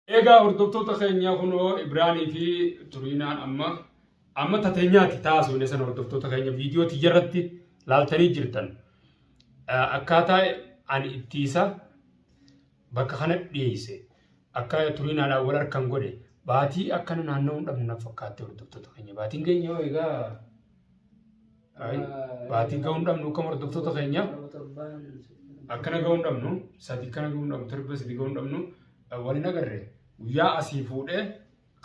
Egaa hordoftoota keenya kunoo Ibraanii fi Turiinaan amma amma tateenyaati taasifne san hordoftoota keenya viidiyoo tiyya irratti laaltanii jirtan. Akkaataa ani ittiisa bakka kana dhiyeesse akka Turiinaadhaan wal harkan godhe baatii akkana naanna'uun dhabne na fakkaatte hordoftoota keenya baatiin keenya egaa Ay, baatii ga'uu hin dhabnu akkam hordoftoota keenya. Yeroo torbaan Akkana ga'uu hin dhabnu, sadi kana ga'uu hin dhabnu, torba sadi ga'uu hin dhabnu. Wal hin agarre guyyaa asii fuudhee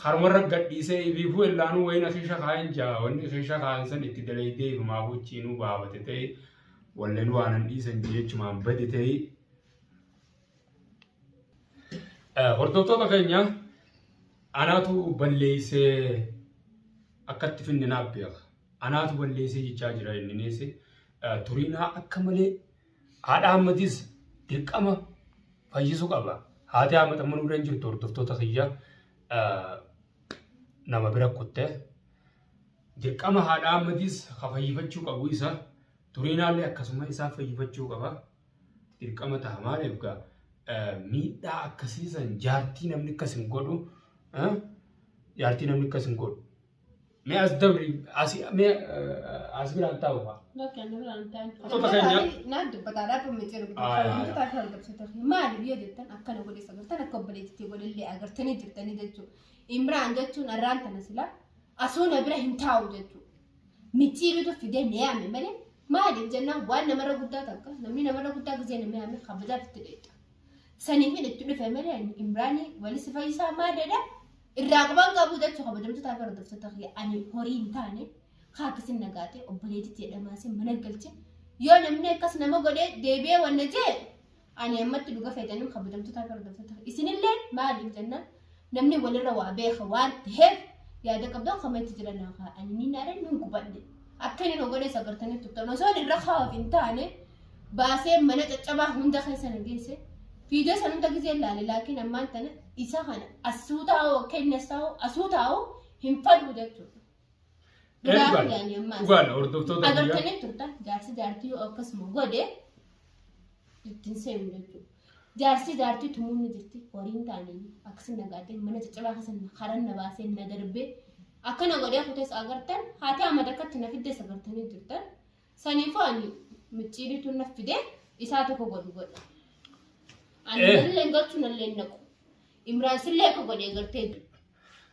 karumarra gadhiisee ibiifuu illaanuu wayiin akeesha kaa'een jaa wanni akeesha kaa'een san itti dalaydee ifumaa gochiinuu baabate ta'e walleen waanan dhiisan jechumaan bade ta'e Hordoftoota keenya anaatu balleessee akkatti finne naaf beeka. Anaatu balleessee jechaa jira inni neesse. Turiinaa akka malee haadha hammatis dirqama fayyisuu qaba. Haati hammata manuu irra hin jirtu hordoftoota kiyya nama bira kutte. Dirqama haadha hammatis ka fayyifachuu qabu isa. Turiinaallee akkasuma isaa fayyifachuu qaba. Dirqama ta'a maaliif gaa miidhaa akkasii san jaartii namni akkas hin godhu jaartii namni akkas hin godhu. Mee as dabri as mee as biraan taa'u fa'a. Maali biyya jettan akkana godhe sagartan akka obboleettii godhellee agartanii jirtanii jechuudha. Imraan jechuun arraan tana silaa asuu na bira hin taa'u jechuudha. micciiritu fidee na yaame malee maaliif jennaan waan namarra guddaa takka namni namarra guddaa gisee nama yaame kabajaaf itti dheetta. Saniifin itti dhufe malee ani Imraanii walisi fayyisaa maadadha irraa qaban qabu jechu kabajamtotaa gara doftoota kiyya ani horii hin taane haa akkasin nagaate obboleetitti jedhamaasee mana galche yoo namni akkas nama godhee deebi'ee wanna jee ani ammatti dhuga fayyadamuun kabajamtoota fi hordoftoota isinillee maaliif jennaan namni walirra waa beeka waan ta'eef yaada qabdan komeenti jira naa kaa ani ni naare ni gubadhe akka inni nu godhe sagartanii tuttan osoo irra kaa'uuf hin taane baasee mana caccabaa hunda keessa na geesse fiidee san hunda gisee laale laakiin ammaan tana isa kana asuutaa'oo kenna saa'oo asuutaa'oo hin fadhu jechuudha. Duraa Eebbaa. fuudhanii ammaas. Dhugaadha hordoftoota biyyaa. Agartanii turtan jaarsi jaartii yoo akkasuma godhe ittiin seenu jechuudha. Jaarsi jaartii tumuun ni jirti horiin taanii akkasii nagaatee mana caccabaa keessa na- karan na baasee na darbee akkana godhee kutees agartan haati amma takkatti na fiddees agartanii jirtan saniifuu ani micciiriitu na fide isaa tokko godhu godha. Ani Eh. nallee galchu nallee naqu. Imraan sillee akka godhee gartee jiru.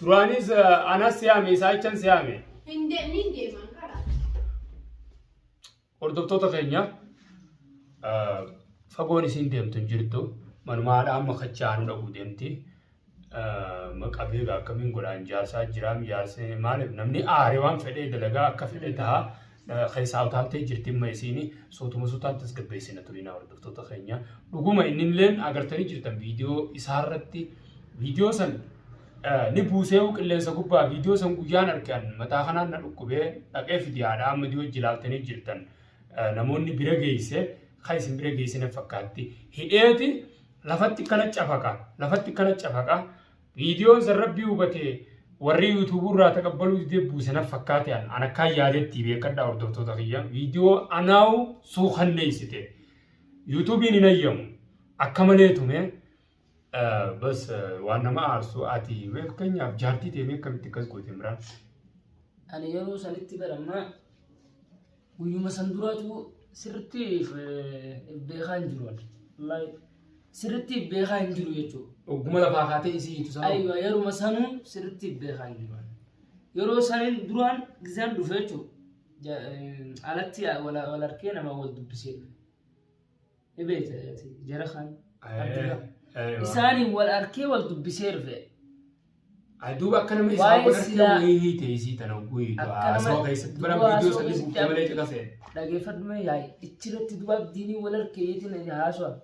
Duraanis eh, anas si yaame isaa jechan si yaame. Hin de- niin deemaan karaa. Hordoftoota keenya eh, fagoon isiin deemtu hin jirtu. Manuma haadha amma kachaa aanu dhaquu deemti. Eh, Maqaa beekaa akkamiin godhaan jaarsaa jiraam jaarsee maaliif namni aare waan fedhee dalagaa akka fedhe ta'a. keessaa utaaltee jirti amma isiin suutuma suutaan tasgabbeessina turinaa hordoftoota keenya dhuguma inni illee agartanii jirtan viidiyoo isaarratti viidiyoo san ni buusee qilleensa gubbaa viidiyoo san guyyaan argan mataa kanaan na dhukkubee dhaqee fidiyaadha amma dhiyoo jilaaltanii jirtan namoonni bira geesse kan isin bira geessine fakkaatti hidheeti lafatti kana cafaka lafatti kana cafaka Viidiyoon san rabbii hubatee warri yuutuubuu irraa taqabbaluu didee buuse naf fakkaate an an akkaan yaadetti beekadhaa hordoftoota kiyya viidiyoo anaawu suukanneessite yuutuubiin hin ayyamu akka malee tume bas waan nama aarsu ati fakkeenyaaf jaartii ta'e akkamitti akkas goote imraan. Ani yeroo sanitti barammaa Guyyuma san duraatu sirriitti beekaa hin jiru. Wallaahi sirriitti beekaa hin jiru jechuudha. Ogguma lafaa kaatee isii hiitu sana. Aywa yeruma sanuu sirriitti beekaa hin jiru. Yeroo saniin duraan gizaan dhufe jechuudha. Alatti wal wal harkee nama wal dubbisee dhufe. Ni beekta ati jara kan Abdullah. Aywa. Isaaniin wal arkee wal dubbisee dhufe. Ay, duuba akka nama isaa Waa'ee wal argee silaa- wayii hiite isii tana wayii Akka du'a nama- haasawaa keessatti bara du'a viidiyoo haasawaa sanii keessatti buuftee malee caqasee. Dhageeffadhu mee yaa'i. Ichirratti duba abdiinii wal arkee jeetiin haasawaa.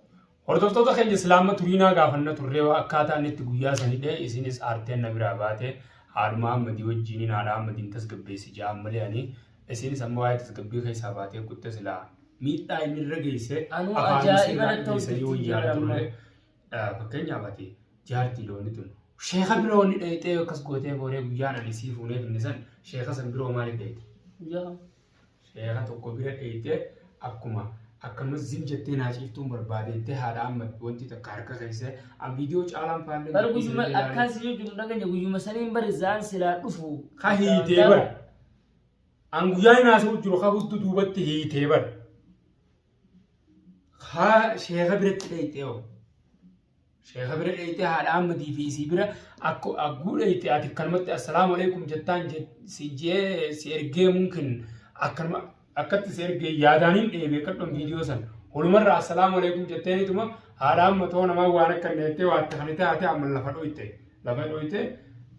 Hordoftoota keenya islaama turiinaa gaafanna turree waa akkaataa inni itti guyyaa sanidhe isinis aarteen na biraa baate haadhuma ammadii wajjiniin haadha ammadiin tasgabbeessi ja'a malee ani isinis amma waa'ee tasgabbii keessaa baatee kutte silaa miidhaa inni irra geesse Anuu afaan ajaa'iba isii irraa natti dhiyeessa yoo hojjetti yaada jedhama. turre eh, fakkeenyaaf ati jaartii loonii tun sheeka bira wal dhayxee akkas gootee booree guyyaan ani sii fuunee finne san sheeka san biroo maaliif dhayxe Guyyaa sheeka tokko bira dhayxee akkuma akkanumas zim jettee naa ciiftuun barbaadeettee haadha amma wanti takka harka keessee an viidiyoo caalaan faallee bara guyyuma akkaasii yoo jiru dhaganya guyyuma saniin bari zaan silaa dhufu. Ka hiitee bara. An guyyaa hin haasa'u jiru ka huddu duubatti hiitee bar. Ka sheeka biratti dheeyxee hoo. Sheeka bira dheeyxee haadha Ahmadii fi isii bira akka agguu dheeyxee ati akkanumatti assalaamu alaikum jettaan je- si jee si ergee mumkin akkanuma akkatti si ergee yaadaan hin dheebee kadhon viidiyoo san. Holumarra assalaamu alaikum jetteeniituma haadha amma too namaa waan akka hin dheettee waan akka kan taate amma lafa dhoyte lafa dhoyte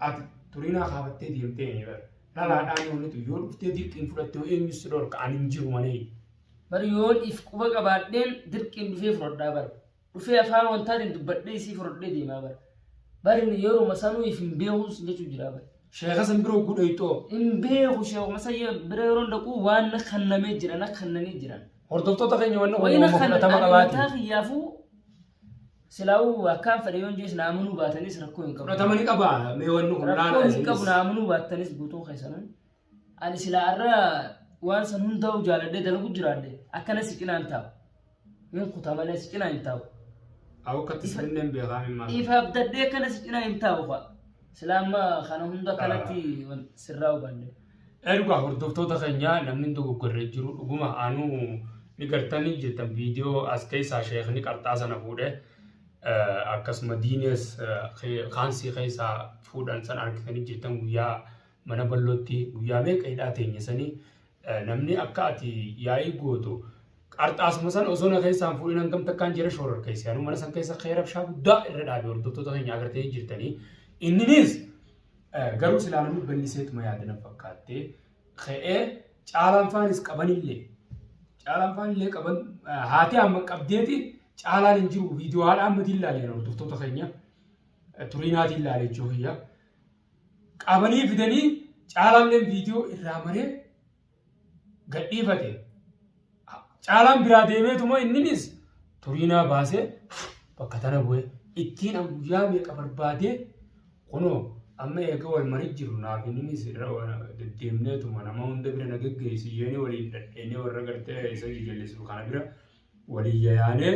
ati turinaa kaafattee deemtee hin bara. dhalaadhaan oolutu yoo dhuftee dirqiin fudhatte yoo eenyu si dhorka ani hin jiru malee. Bar yoon if quba qabaadheen dirqiin dhufee fudhadhaa bar. Dhufee afaan wantaatiin dubbadhee isii fudhadhee deemaa bar. Bar inni yeruma sanuu if hin beekuu sin jechuu jira bar. Sheeka san biroo gudhayxoo Hin beeku sheekuma sayya bira yeroo dhaqu waan na kannamee jira na kannanii jiran. hordoftoota keenya wanni Wayina uumama kan fudhatama ani mataa qabaate. kiyyaafuu Silaa'uu akkaan fedhe yoon jees na amanuu baatanis rakkoo hin qabu. Fudhatama ni qaba mee wanni kun laala Rakkoo hin qabu na amanuu baattanis guutuu keessanan. Ani silaa irra waan san hundaa'u jaaladhee dalagu jiraadhe akkana si cinaan taa'u. Hin kutaa malee si cinaa hin taa'u. Awu akkatti sirrinneen beekaa hin maal. Ifa abdadhee akkana si cinaa hin taa'u fa'a. Silaa amma kana hunda kanatti sirraa hubanne. Dhugaa hordoftoota keenyaa namni dogoggorree jiru dhuguma anuu ni gartanii jettan viidiyoo as keessaa sheekni qarxaa sana fuudhe akkasuma diinees kaansii keessaa fuudhan san argitanii jettan guyyaa mana ballootti guyyaa meeqa hidhaa teenya sanii namni akka ati yaa'ii gootu qarxaasuma san osoo na keessaan fuudhin hangam takkaan jira shoorar keessi anuu mana san keessa keerabshaa guddaa irra dhaabe hordoftoota keenya agartanii jirtanii inninis Garuu silaa namni balliseetuma yaada na fakkaattee ka'ee caalaan faanis qabanillee caalaan faanillee qaban haati amma qabdeeti caalaan hin jiru viidiyoo haadha amma ilaalee hordoftoota keenya turiinaatiin ilaalee jiru hiyya qabanii fidanii caalaalleen viidiyoo irraa maree gadhiifate. Caalaan biraa deemeetuma inninis turiinaa baasee bakka tana bu'e ittiin an guyyaa meeqa barbaadee kunoo amma eega wal marii jirru naaf inninis irra deddeemneetuma nama hunda bira na geggeessi jeeni waliin dhadheenee warra gartee isa jijallisiru kana bira walii yayaanee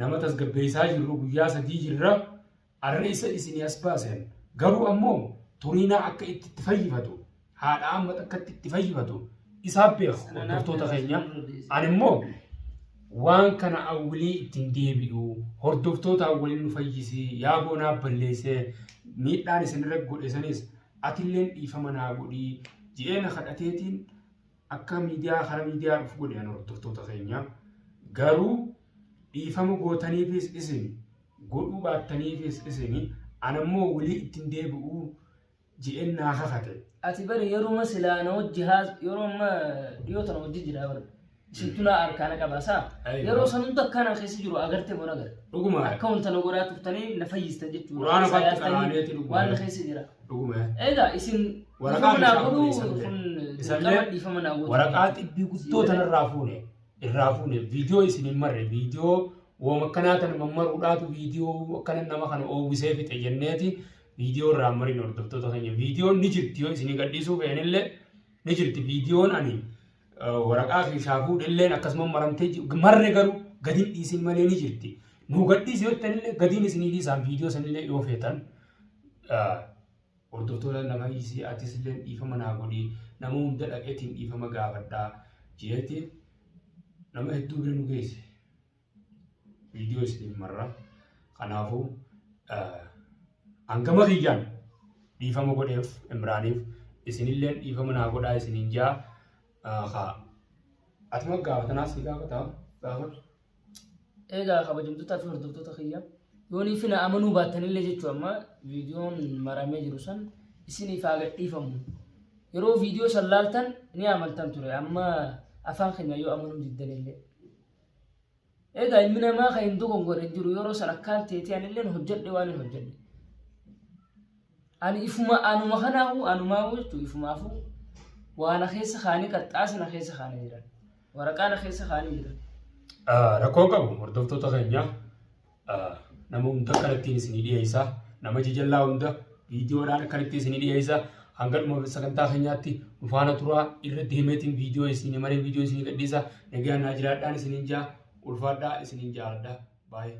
nama tasgabbeessaa jirru guyyaa sadii jirra Arra isa isinii as baasen, garuu ammo Turiinaa akka itti itti fayyifatu, haadha amma takkatti itti fayyifatu isaa beeka hordoftoota keenya. Ani immoo waan kana awwilii ittiin deebi'u hordoftoota awwalii nu fayyisii yaa boonaa balleessee miidhaan isinirra godhe sanis atilleen dhiifama naa godhii ji'ee na kadhateetiin akka miidiyaa kara miidiyaa dhufu godhe ani hordoftoota keenya. Garuu dhiifama gootaniifis isin godhuu baattaniifis isin, ana immoo wly itti hin deebi'u je'een naa kakate. Ati bari yeruma silaa na wajji haas yeroo amma dhiyoo tana wajji jira bar isintu na arkaa na qaba saa Aywa. yeroo san hunda akkaan an keessa jiru agarte bona gar Dhuguma akka wanta na godhaa turtanii na fayyistan jechuudha Qur'aana Isaa fatti yaastanii qaraaneeti dhuguma. waan na keessa jira dhuguma egaa isin Waraqaa dhiifama naa meeshaa godhuu fuudhe isan kun isallee dirqama dhiifama naa godhuu waraqaa xibbii guddoo tanarraa fuune irraa fuune viidiyoo isin hin marre viidiyoo woom akkanaa tan mammaruudhaatu viidiyoo akkana nama kana oowwisee fixe jenneeti viidiyoo irraa mariin hordoftoota keenya viidiyoon ni jirti yoo isin gadhiisuu feenillee ni jirti viidiyoon ani waraqaa keessaa fuudhilleen akkasuma maramtee marre garuu gadiin dhiisin malee ni jirti nuu gadhiisi yoo tanillee gadiin isinii dhiisaan viidiyoo sanillee yoo feetan Hordoftoota nafa hiisii atisilleen dhiifama naa godhi nama hunda dhaqetiin dhiifama gaafadha jeetiin nama hedduu bira nu geesse viidiyoo isiniif marra kanaafuu hangama kiyyaan dhiifama godheef imraaniif isinilleen dhiifama naa godhaa isiniin jaa haa atuma gaafatanaas ni gaafata gaafadha. Egaa kabajamtootaa fi hordoftoota kiyya yoonii fi na amanuu baattanillee jechuu amma viidiyoon maramee jiru san isiniif haa gadhiifamu. Yeroo viidiyoo san laaltan ni amantan ture amma afaan keenya yoo amanuu diddanillee. Egaa ilmi namaa kan hin dogongorre hin jiru yeroo san akkaan teetee anilleen hojjedhe waan hin hojjedhe. Ani ifuma anuma kanaahu anumaahu jechuun ifumaafuu waa na keessa kaanii qarxaasa na keessa kaanii jiran waraqaa na keessa kaanii jiran. Ah, Rakkoo hin qabu hordoftoota keenya ah, nama hunda akkanattiin isinii dhiyeessa nama jajallaa hunda viidiyoodhaan akkanatti isinii dhiyeessa hanga dhuma sagantaa keenyaatti nu faana turaa irra deemeetiin viidiyoo isinii maree viidiyoo isinii gadhiisa nagaan naa jiraadhaan isiniin jaa ulfaadhaa isiniin jaaladha baay'ee.